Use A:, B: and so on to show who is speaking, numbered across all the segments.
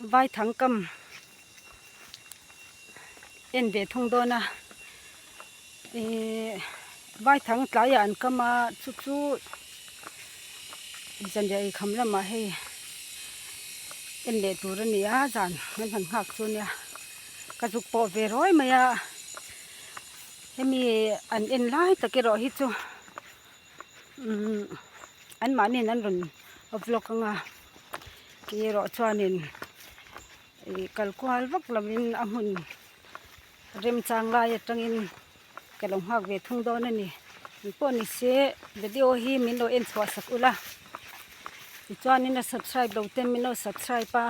A: Vai thang kam en ve thung dawn a, ih vai thang tlai ah an kam a chu chu zanriah ei kham lamah hei en leh tur a ni a zan an han nghak chu nia ka zuk pawh ve ruai mai a, hemi an en lai tak erawh hi chu umm anmahni in an rawn vlog anga. erawh chuanin ih kal kual vak lovin a hmun remchang lai atangin ka lo nghak ve thung dawn a ni mi pawh ni se video hi min lo en chhuah sak ula tichuanin a subscribe lo te min lo subscribe a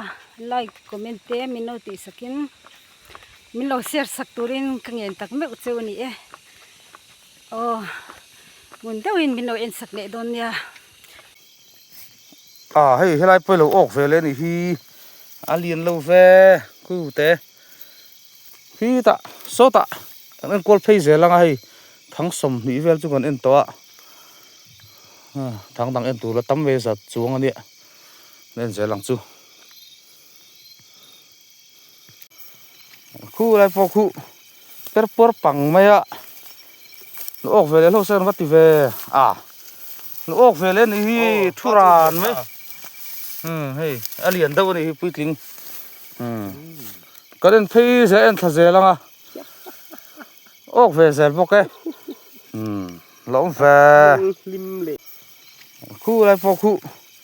A: like comment te min lo tih sakin min lo share sak turin ka ngen tak meuh che a ni e aw hmun deuhin min lo en sak leh dawn nia.
B: Aw hei helai pawh ilo awk vele anih hi a lian lo ve kute khi ta sawtah kan enkawl phei zel anga hei thang sawm hnih vel chu kan en tawh a thang dang en tur la tam mai zat chuang ania kan en zel ang chu. Khu lai pawh khu per puar pang mai a nu awk ve leh hlauh se kan va ti ve a nu awk ve leh anih hi thu ran mai hmm hei a lian deuh anih hi puitling hmm kan en phei zi a en thla zel ang a awk ve zel bawk e hmm la awm ve khu lai pawh khu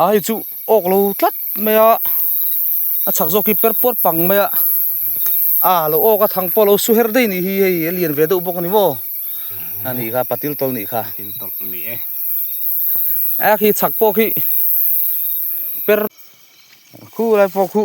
B: a hei chu awk lo tlat mai a a chhak zawk hi per puar pang mai a a lo awk a thang pawh a lo su her daih a nih hi hei a lian ve deuh bawk a ni maw a nih kha patil tawl a nih kha a khi chhak pawh khi per khu lai pawh khu.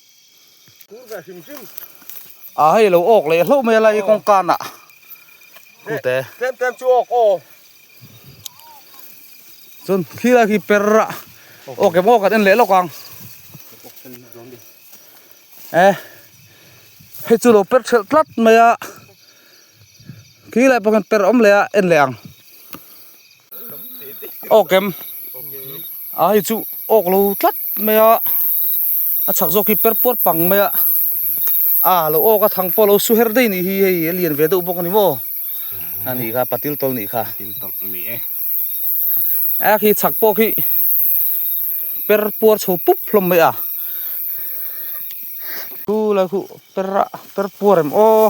B: Aa hei lo awk leh hlauh mai a la i kawng kana ute tlem tlem chu awk aw chuan khilai khi per a awk em awk kan en leh lawk ang e hei chu lo per ṭhelh tlat mai a khilai pawh khan per awm leh a en leh ang awk em. a hei chu awk lo tlat mai a a chak zawk hi per puar pang mai a a lo awk a thang pawh a lo su her daih nih hi hei a lian ve deuh bawk a ni maw a nih kha patil tawlh nih kha a khi chak pawh khi per puar chho pup hlawm mai a chu lai khuh per a per puar em aw.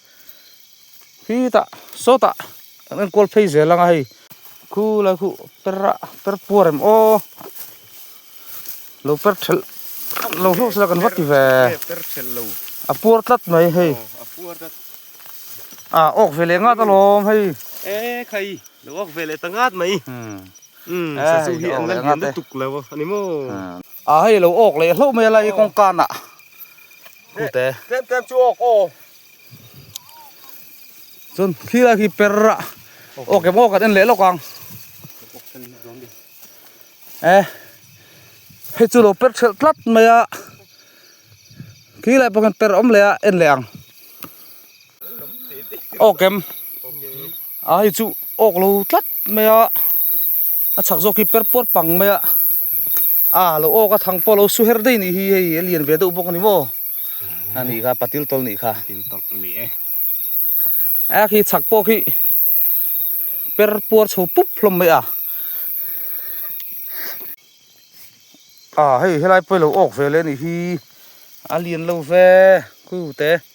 B: Hi ta sawtah kan en kual phei zel ang a hei khu lai khu per a per puar em aw lo per ṭhel lo hlawk sila kan va ti ve
C: a puar tlat mai
B: hei a awk
C: ve leh ngat
B: alawm
C: hei
B: e khai
C: lo awk ve
B: leh ta
C: ngat mai sa chu hi an la lian lutuk lo a ni maw a hei lo
B: awk leh hlauh mai a la i kawngkanah tlem tlem chu awk aw. chuan khi lai khi per a awk em awk kan en leh lawk ang e hei chu lo per ṭhelh tlat mai a khi lai pawh khan per awm leh a en leh ang awk em. a hei chu awk lo tlat mai a a chak zawk hi per puar pang mai a a lo awk a thang pawh a lo su her daih a nih hi hei a lian ve deuh bawk a ni maw a ni kha patil tawlh a nih kha a khi chak pawh khi per puar chho pup hlawm mai a a hei helai pawh hi a lo awk ve leh a nih hi a lian lo ve khu te.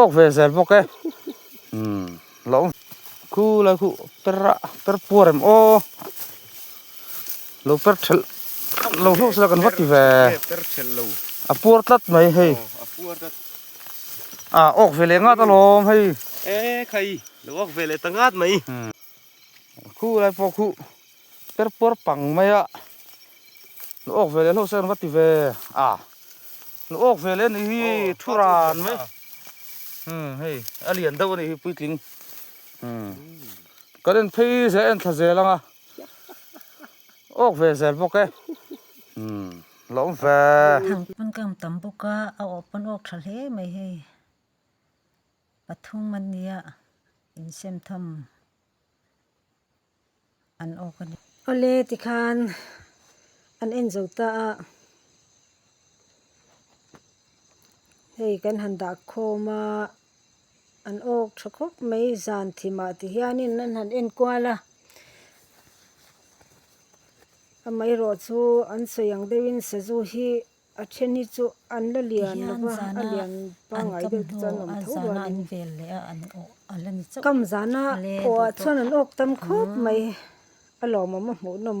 B: Awk ve zel bawk e lo khu la khu per a per pu rem aw lo per ṭhelh lo hluk sila kan va ti ve
C: a puar tlat
B: mai hei
C: a
B: awk ve leh ngat alawm hei e khai
C: lo awk ve leh ta ngat mai
B: khu lai pawh khu. Per puar pang mai a, nu awk veleh hlauh se kan va ti ve a, nu awk veleh anih hi thu ran mai umm hei a lian deuh anih hi puitling umm kan en phei zel en thla zel anga awk ve zel bawk e umm la awm ve. Thang pawn ka awm
A: tam bawk a, a awh pawn awk tha hle mai hei, pathum ania insemthawm. an awk a ni. Awle tikhan an en zo ta a, hei kan han dah khawm a, an awk tha khawp mai zan thim ah ti hianin an han en kual a, amaherawhchu an sawi ang deuhin sazu hi A then hi chu an la lian lova a lian pangai deuh te chuan awm tho rual in kam zana aw ah chuan an awk tam khawp mai a lawmawm a hmuhnawm.